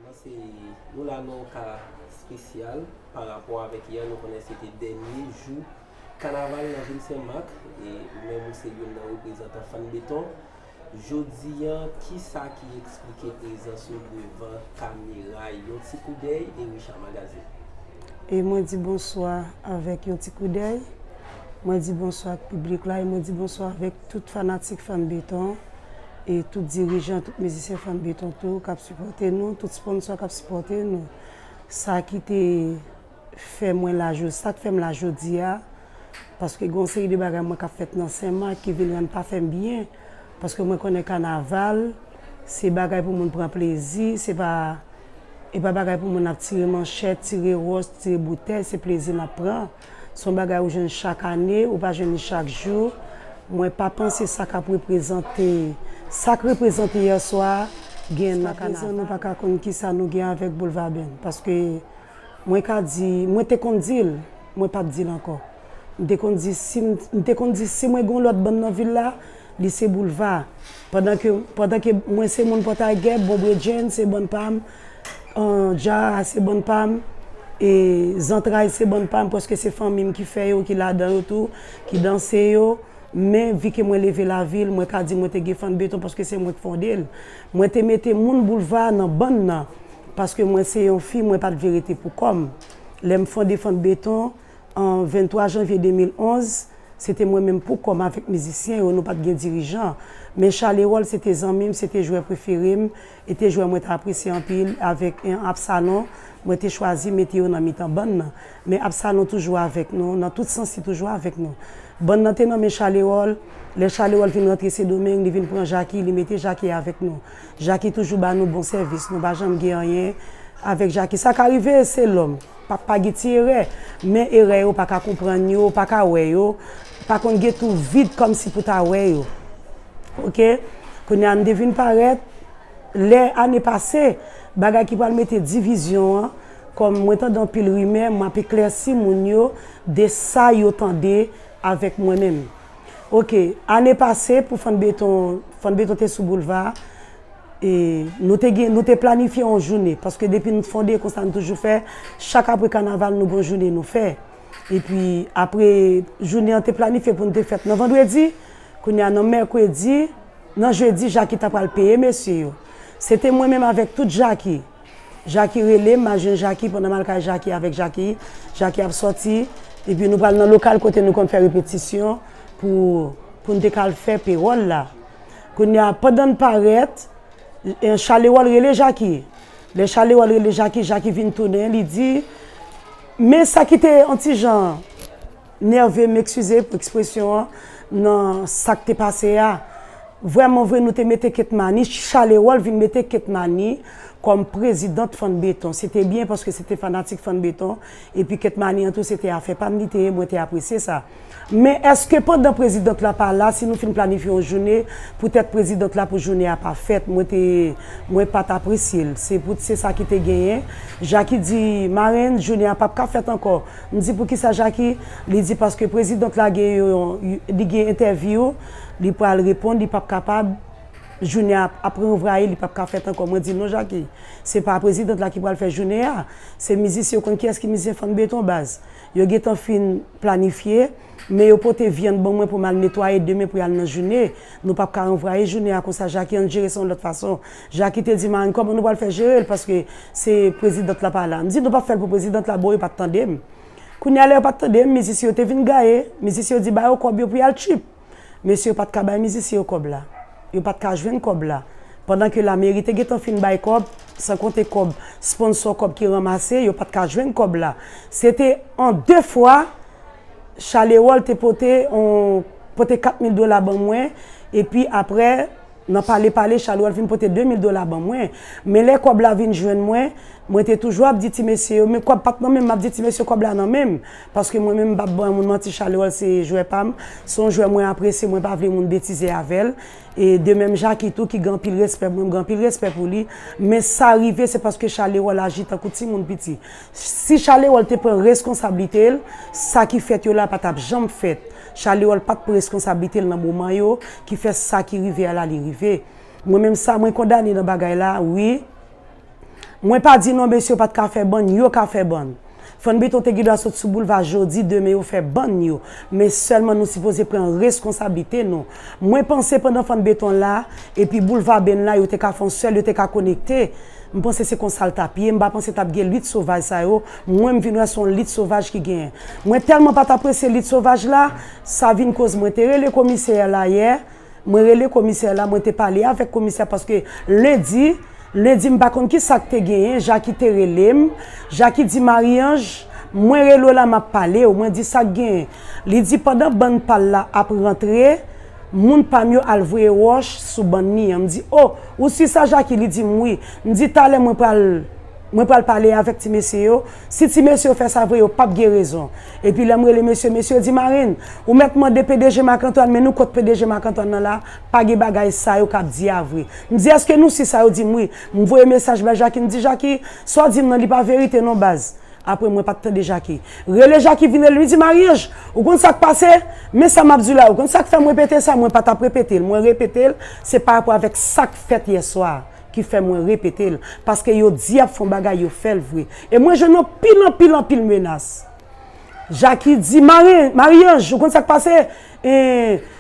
Mwen se nou la nan yon ka spesyal pa rapò avèk yè nou konnen se te dènye jou kanaval nan vil Sen Mak e ou menm ou se youn nan reprezantan Fann Beton. Jodi an, ki sa ki eksplike prezans yo devan kamera? Yon ti koudèy Ericha Magazine. E mwen di bonswa avèk yon ti koudèy. Mwen di bonswa ak piblik la e mwen di bonswa avèk tout fanatik Fanm Beton e tout dirijan, tout mizisyen Fanm Beton tou k ap sipòte nou, tout sponsò k ap sipòte nou. Sa ki te. fè mwen la jodi, sa k fè m la jodi a, paske gen yon seri de bagay mwen k ap fèt nan Sen Mak ki vin rann pa fè m byen, paske mwen konnen kanaval se bagay pou moun pran plezi, se pa, e pa bagay pou moun ap tire manchèt, tire wòch, tire boutèy, se plezi n ap pran, s on bagay ou jwenn chak ane, ou pa jwenn li chak jou, mwen pa panse sa k ap reprezante, sa k reprezante yèswa a, gen nan kanaval. Jiska prezan nou pa ka konn kisa nou gen avèk Boulvaben, paske. Mwen ka di, mwen te konn di l, mwen pa p di l ankò. M te konn di si m, m te konn di si mwen gen yon lòt bann nan vil la, li se Boulva. Pandan ke, pandan ke mwen se moun Pòtayge, Bon Bredjenn se bann pa m, Djara se bann pa m, e Zantray se bann pa m, paske se fanmi m ki fè yo, ki ladan yo tou, ki danse yo. Men, vi ke mwen leve lavil, mwen ka di mwen te gen Fann Beton paske se mwen ki fonde l. Mwen te mete moun boulva a nan bann nan paske mwen se yon fi mwen pa t vle rete pou kò m. Lè m fonde Fant Beton an 23 janvye 2011, se te mwen menm pou kò m avèk mizisyen yo, nou pa t gen dirijan. Men Chal Erol se te zanmi m, se te jwè prefere m e te jwè mwen te apresye anpil. Avèk Absalon, mwen te chwazi mete yo nan mitan bann nan. Men Absalon toujou avèk nou, nan tout sans li toujou avèk nou. Bann nan te nan men Chal Erol. Lè Chalewòl fin rantre Sendomeng, li vin pran Jaki, li mete Jaki avèk nou. Jaki toujou ba nou bon sèvis, nou pa janm gen anyen avèk Jaki. Sa ka rive, se lòm, pa pa gen ti erè, men erè yo pa ka konprann yo, pa ka wè yo, pa konn gen tou vid kòmsi pou ta wè yo. Ok, kounye a m te vin parèt, lè ane pase, bagay ki pral mete divizyon an, kòm mwen tande anpil rimè, m ap eklèsi moun yo de sa yo tande. Avèk mwen menm. Ok, ane pase pou Fann Beton, Fann Beton te sou boulva a, e nou te gen, nou te planifye yon joune, paske depi n fonde konsa n toujou fè, chak apre kanaval nou gen yon joune nou fè. E pi apre joune an te planifye pou n te fèt nan vandredi, kounye a nan mèkredi, nan jedi Jaki ta pral peye mesye yo. Se te mwen menm avèk tout Jaki. Jaki rele m, m al jwenn Jaki, pandan m al kay Jaki avèk Jaki, Jaki ap sòti, epi nou pral nan lokal kote nou konn fè repetisyon pou pou n te ka al fè pewòl la. Kounye a, pandan n parèt, Chalewòl rele Jaki. Lè Chalewòl rele Jaki, Jaki vin tounen, li di, Men sa ki te yon ti jan. Nerve m ekskize pou ekspresyon an nan sak te pase a vrèman vre nou te mete ketmani chalerol vin mete ketmani kòm prezidant fann beton se te byen paske se te fanatik fann beton epi ketmani an tou se te afè pam li te ye mwen te apresye sa men eske pandan prezidant la pa la si nou fin planifye yon joune pou tèt prezidant la pou joune a pa fèt mwen te mwen pat apresye l se pou se sa ki te genyen jaki di marenn joune a pap ka fèt ankò M di poukisa Jaki, li di paske president la gen yon li gen entèvyou li pral reponn li pap kapab jounen a ap reouvraye li pap ka fèt ankò mwen di non Jaki se pa president la ki pral fè jounen a se mizisyen ou konn kiyès ki mizisyen fann beton baz yo gentan fin planifye men yo pote vyann ban mwen pou m al netwaye demen pou y al nan joune nou pap ka ranvwaye jounen a konsa Jaki ann jere sa yon lòt fason Jackie te di Marne kòman nou pral fè jere l paske se prezidant la pa la. M di nou pap fè l pou prezidant la bon yo pat tande m. Kounye a lè yo pat tande m mizisyen yo te vin gaye, mizisyen yo di ba yo kòb yo pou y al tchuip. Mesye yo pat ka bay mizisyen yo kòb la. Yo pat ka jwenn kòb la. Pandan ke lameri te gentan fin bay kòb, san konte kòb sponsò kòb ki ranmase, yo pat ka jwenn kòb la. Se te an de fwa Charles Herold te pote yon pote 4 mil dola ban mwen epi aprè Nan pale pale, Chalouel fin pote 2 mil dola ban mwen. Men lè kòb la vin jwenn mwen, mwen te toujou ap di ti mesye yo, men kòb pa t nan men m, m ap di ti mesye kòb la nan men m. Paske mwen menm m pa p ban moun manti, Chalouel se jwè pa m, se yon jwè mwen apresye, mwen pa vle moun betize avè l. E de menm Jacky tou ki gen anpil respè pou mwen, m gen anpil respè pou li. Men sa rive se paske Chalouel aji tankou timoun piti. Si Chalerol te pran reskonsablite l, sa ki fèt yo la pa t ap janm fèt. Chalerol pa t pran reskonsablite l nan moman yo ki fè sa ki rive a la li rive. Mwen menm sa mwen kondane nan bagay la wi. Mwen pa di non mesye yo pa t ka fè bann, yo ka fè bann. Fann Beton te gendwa sot sou boulva jodi demen yo fè bann yo. Men sèlman nou sipoze pran reskonsablite nou. Mwen panse pandan fann beton la epi boulva benn la yo te ka fon sèl yo te ka konekte m panse se konsal tap ye m pa panse tap gen lit sovaj sa yo mwen m vin wè son lit sovaj ki gen mwen tèlman pat apresye lit sovaj la sa vin koz mwen te rele komisè la yè mwen rele komisè la mwen te pale avèk komisè paske lendi lendi m pa konn kisak te genyen jaki te relem jaki di Marie-Ange mwen rele w la map pale w mwen di sak gen Li di pandan bann pa l la ap rantre, moun pa m yo al voye wòch sou bann li an. M di, O, ou si sa Jaki? Li di m, Wi. M di, Talè mwen pral, mwen pral pale avèk ti mesye yo. Si ti mesye yo fè sa vre, yo pap gen rezon. Epi lè m rele mesye, mesye yo di, Marenn, ou mèt mande PDG Marc-Antoine, men nou kot PDG Marc-Antoine nan la, pa gen bagay sa yo k ap di a vre. M di, Èske nou si sa? Yo di m, Wi. M voye mesaj bay Jaki, m di, Jaki, sa w di m nan, li pa verite non baz. Apre mwen pat tande Jacky. Rele Jacky vin rele li di Maryanje ou konn sak pase men sa map diw la ou konn sak fèm repete sa mwen patap repetel mwen repetel se parapò avèk sak fèt yèswa ki fè mwen repetel paske yo di yap fon bagay yo fèl vre e mwen jwenn anpil anpil anpil menas Jacky di Maryanje ou konn sak pase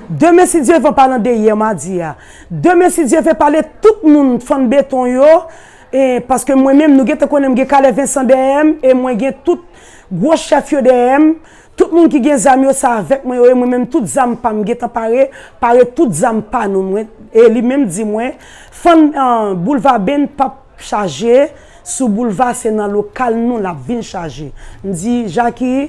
demen si Dye van palan de yè madi a demen si Dye ve pale tout moun fann beton yo E paske mwen menm, nou gentan konnen m gen Calais Vincent dèyè m e mwen gen tout gwo chèf yo dèyè m. Tout moun ki gen zam yo, se avèk mwen yo ye. Mwen menm tout zam pa m, m gentan pare. Pare tout zam pa nou. Mwen, e li menm di mwen, Fann, boulva Beny pap chaje sou boulva, se nan lokal nou l ap vin chaje. M di, Jaki.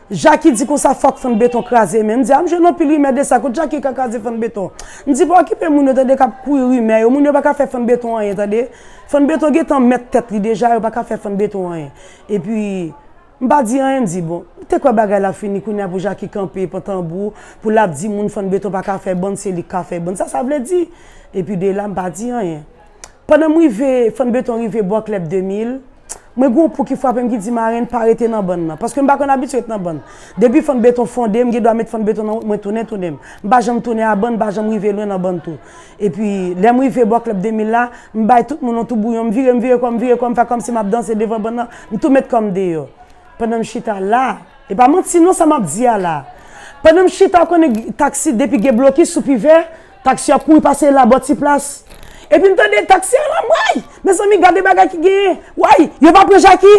Jacky di konsa fòk fann beton kraze men, m di a m jwenn anpil rimè de sa kot Jacky ka kraze fann beton, m di pa okipe moun yo tande kap kouri rimè yo moun yo paka fè fann beton anyen tande fann beton gentan mèt tèt li deja yo paka fè fann beton anyen epi m pa di anyen m di bon m te kwè bagay la fini kounya pou Jacky kanpe pran tanbou pou lap di moun fann beton paka fè bann se li k ka fè bann sa sa vle di epi de la m pa di anyen. Pandan m rive, Fann Beton rive bò klèb 2000, mwen gen yon pou ki frape m ki di, Marenn, pa rete nan bann nan. Paske m pa konn abitye ret nan bann. Depi Fann Beton fonde, m gen dwa met Fann Beton nan wout, mwen tounen tounen m. M pa janm tounen a bann, m pa janm rive lwen nan bann tou. Epi, lè m rive bò klèb 2000 la, m bay tout moun yon toubouyon, m vire, m vire kò m, m vire kò m, fè kòmsi m ap danse devan bann nan, m tou met kò m deyò. Pandan m chita la, e pa manti non sa m ap di a la, pandan m chita ou konnen taksi depi gen blokis sou pivè, Taxi ap kouri pase la bò ti plas. Epi m tande taxi a la bway. Mezanmi gade bagay ki genyen. Way, yo pa pran Jaki?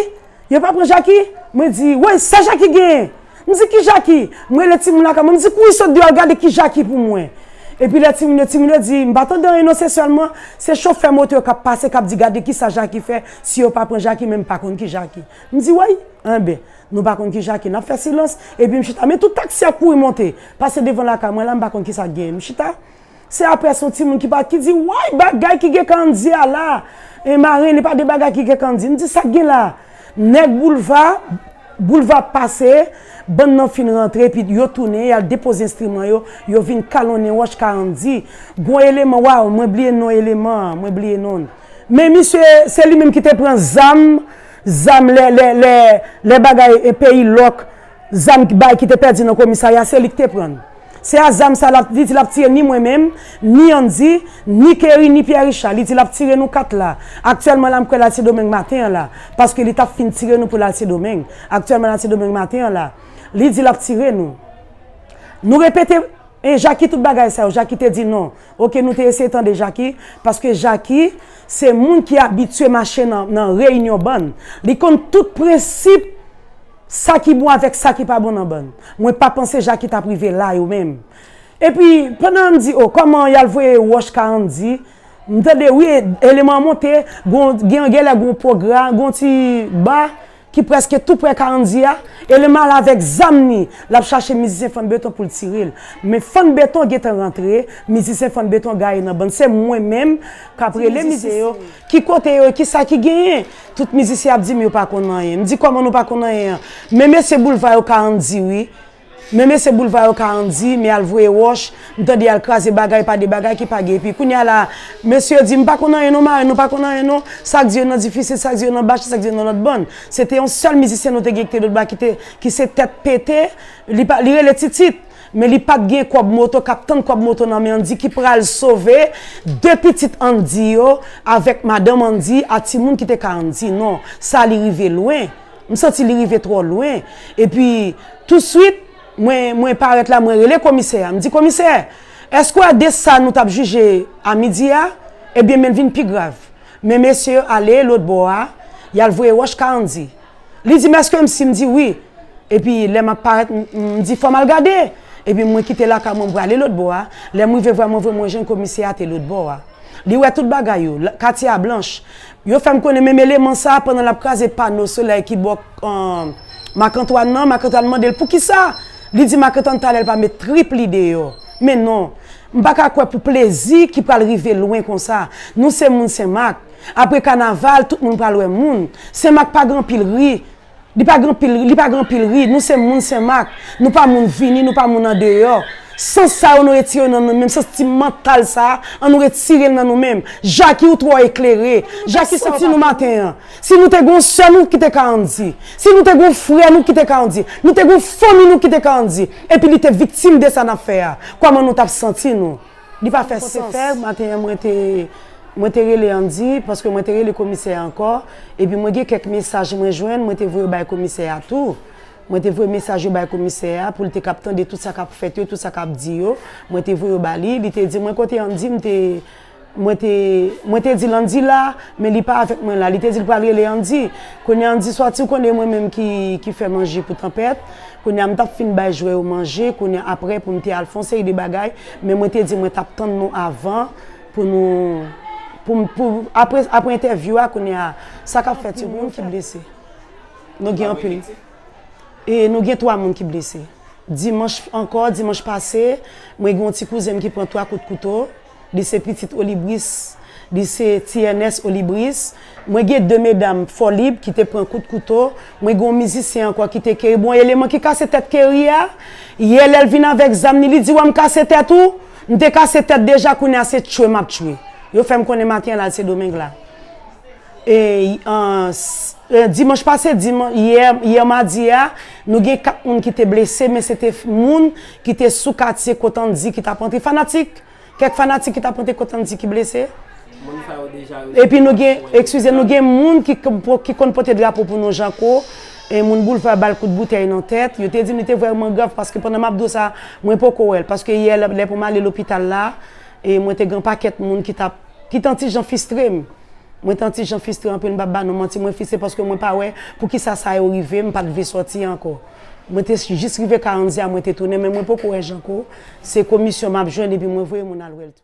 Yo pa pran Jaki? Mwen di, way sa Jaki genyen? M di ki Jaki? M rele timoun lakay mwen m di kouri sot deyò al gade ki Jaki pou mwen. Epi lè timoun yo, timoun yo di, m pa tande anyen non se sèlman se chofè moto yo k ap pase k ap di gade kisa Jaki fè si yo pa pran Jaki men m pa konn ki Jaki. M di way, anben. Nou pa konn ki ja ke nap fè silans epi m chita men tout taksi ap kouri monte pase devan lakay mwen la m pa konn kisa k genyen m chita se aprè son timoun ki pale ki di woy bagay ki gen kan di a la e marenn li pa gen bagay ki gen kan di m di sak gen la nèg boulva boulva pase bann nan fin rantre epi yo tounen yal depoze enstriman yo yo vin kalonnen wòch karann di gon eleman waw mwen bliye non eleman an mwen bliye non l men misye se li menm ki te pran zam. Zam lè lè lè lè bagay e peyi lòk zam ki bay ki te pèdi nan komisarya se li ki te pran l se a zam sa lap li di lap tiye ni mwen menm ni Andy ni Kerry ni Pierre Richard li di lap tire nou 4 la aktyèlman la m kwè lal sendomeng maten an la paske li tap fin tire nou pou lal sendomeng aktyèlman lal sendomeng maten an la li di lap tire nou nou repete e Jacky tout bagay sa yo Jacky te di non Ok nou te eseye tande Jacky paske Jacky se moun ki abitye mache nan reyinyon bann li konn tout prensip sa ki bon avèk sa ki pa bon nan bann mwen pa panse Jacky tap rive la yo menm epi pandan an di oh kòman yal voye wòch ka an di m tande wi eleman monte gen yon gèlè gen yon pwogra gen yon ti ba. ki preske tou prè Karandy a, eleman al avèk zam ni, lap chache mizisyen Fann Beton poul tirel, men Fann Beton gentan rantre, mizisyen Fann Beton gaye nan bann, se mwen menm kap rele mizisyen yo, ki kote yo e kisa ki genyen, tout mizisyen ap dim yo pa konn anyen, mdi kòman nou pa konn anyen an, men mesye boulva yo Karandy wi. Men mesye boulva yo ka andy men al voye roch m tande yal kraze bagay pa de bagay ki pa gen epi kounya la mesye yo di m pa konn anyen non marenn nou pa konn anyen non sak di yo nan difisil sak di yo nan bach sak di yo nan lot bann se te yon sel mizisyen nou te gen ki te dotba kite ki se tet pete li pa li rele titit men li pat gen kob moto kap tann kob moto nan men andy ki pral sove de pitit andy yo avek madanm andy a timoun ki te ka andy non sa li rive lwen. M santi li rive twò lwen. Epi, tousuit, mwen, mwen parèt la, mwen rele Komisè a. M di, Komisè, èske w ade sa nou t ap jije amidi a? Ebyen, men l vin pi grav. Men mesye yo ale lotbò a, y al voye wòch ka Andy. Li di m, Èske m si? M di, Wi. Epi, lè m ap parèt, m, m di, Fò m al gade. Epi, mwen kite lakay mwen, m prale lotbò a. Lè m rive vwa mwen vre, mwen jwenn Komisè a te lotbò a. Li wè tout bagay yo. Katye a blanch. Yo fè m konnen menm eleman sa a pandan l ap kraze pano solèy ki bò Makantwàn nan. Makantwàn mande l poukisa. Li di Makantwàn talè l pa met trip li deyò. Men non. M pa ka kwè pou plezi ki pral rive lwen konsa. Nou se moun Senmak. Apre kanaval, tout moun pral wè moun. Senmak pa gen anpil ri. Li pa gen anpil, li pa gen anpil ri. Nou se moun Senmak. Nou pa moun vini, nou pa moun andeyò. Sans sa yo nou retire yo nan nou menm. Sans ti mantal sa a, an nou retire l nan nou menm. Jaki ou twò eklere. Jaki santi nou maten an. Si nou te gen yon sè nou ki te ka an di. Si nou te gen yon frè nou ki te ka an di. Nou te gen yon fanmi nou ki te ka an di. Epi li te viktim de sa n ap fè a. Kòman nou t ap santi nou? Li pa fè sans. Se fè maten an mwen te mwen te rele Andy paske mwen te rele komisè a ankò epi mwen gen kèk mesaj mwen jwenn mwen te voye bay komisè a tou. Mwen te voye mesaj yo bay komisè a pou l te kab tande tout sa k ap fèt yo, tout sa k ap di yo. Mwen te voye yo ba li. Li te di mwen kote Andy m te mwen te mwen te di l Andy la men li pa avèk mwen la. Li te di l pral rele Andy. Kounye a Andy sòti ou konnen e mwen menm ki ki fè manje pou tanpèt. Kounye a m t ap fin bay jwè yo manje kounye a aprè pou m te al fè yon seri de bagay men mwen te di mwen t ap tann nou avan pou nou pou m pou aprè aprè entèvyou a kounye a sa k ap fèt yo moun ki blese nou gen anpil e nou gen 3 moun ki blese dimanch ankò dimanch pase mwen gen yon ti kouzen m ki pran 3 kout kouto. Li se pitit Olibris. Li se ti Ènès Olibris. Mwen gen de medam Fòlib ki te pran kout kouto. Mwen gen yon mizisyen ankò ki te keri. Bon eleman ki kase tèt keri a, yè lè l vin avèk zam li, li di, wè m kase tèt ou? M te kase tèt deja kounye a se tchwe m ap tchwe. Yo fè m konnen maten an la l se Domeng la. Dimanch pase, yè madi a, nou gen 4 moun ki te blese men se te moun ki te sou katye Kotandji ki t ap antre. Fanatik, kèk fanatik ki t ap antre Kotandji ki blese. Epi nou gen, ekskize, nou gen moun ki konn pote drapo pou nou Janko, moun Boulva ba l kout boutèy nan tèt. Yo te di m li te vrèman grav paske pandan m ap di w sa, mwen poko wè l paske yè lè pou m ale lopital la, mwen te gen yon pakèt moun ki t ap. ki tan ti jan fistre m mwen tan ti jan fistre anpil m pap ba nou manti mwen fise paske mwen pa wè poukisa sa yo rive m pat vle sòti ankò mwen te jis rive karanzya mwen te tounen men mwen poko wè janko se komisyon map jwenn epi mwen voye moun al wèl tou.